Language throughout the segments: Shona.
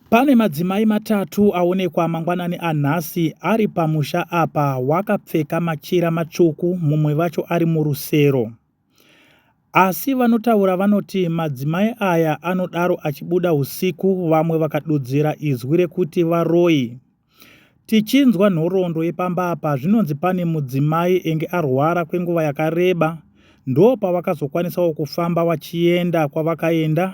Pane madzimai matatu aonekwa mangwanani anhasi ari pamusha apa wakapfeka machira matsvuku mumwe vacho ari murusero. Asi vanotaura vanoti madzimai aya anodaro achibuda usiku vamwe vakadudzira izwi rekuti varoyi. Tichinzwa nhoroondo yepamba apa zvinonzi pane mudzimai enge arwara kwenguva yakareba ndopavakazokwanisawo kufamba vachienda kwavakaenda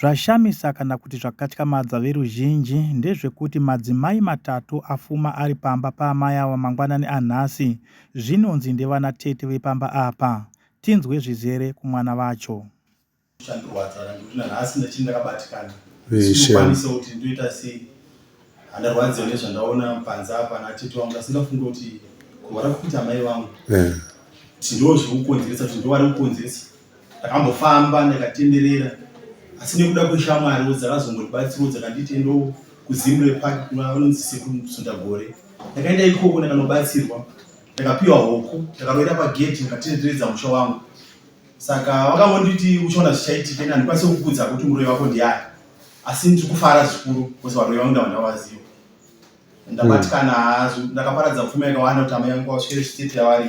Zvashamisa kana kuti zvakatyamadza veruzhinji ndezvekuti madzimai matatu afuma ari pamba paamai ava mangwanani anhasi zvinonzi ndevana tete vepamba apa. Tinzwe zvizere kumwana vacho. Zvandirwadza kana ndikuti nanhasi ndichiri ndakabatikana ndisingakwanisewo kuti ndoita sei. Handarwadziwa nezvandaona panza apa natete wangu asi ndafunga kuti kuhwara kukuita amai vangu eh. kuti ndo zvekukonzeresa kuti ndo vari kukonzeresa ndakambofamba ndakatenderera asi nekuda kweshamwariwo dzakazongondibatsirawo dzakanditi endo kuzimre park kunonzi sekusunda gore ndakaenda ikoko ndakanobatsirwa ndakapiwa hoku ndakaroera pageti ndikatenderedza musha wangu saka vakangonditi uchaona zvichaitika ende handikwanise kukudza kuti muroyi wako ndiani asi ndiri kufara zvikuru bcause varoyi vangu ndava ndavaziva ndabatikana hmm. ndakaparadza pfuma yakawanda kuti amai yangu vasvikire chitete yavari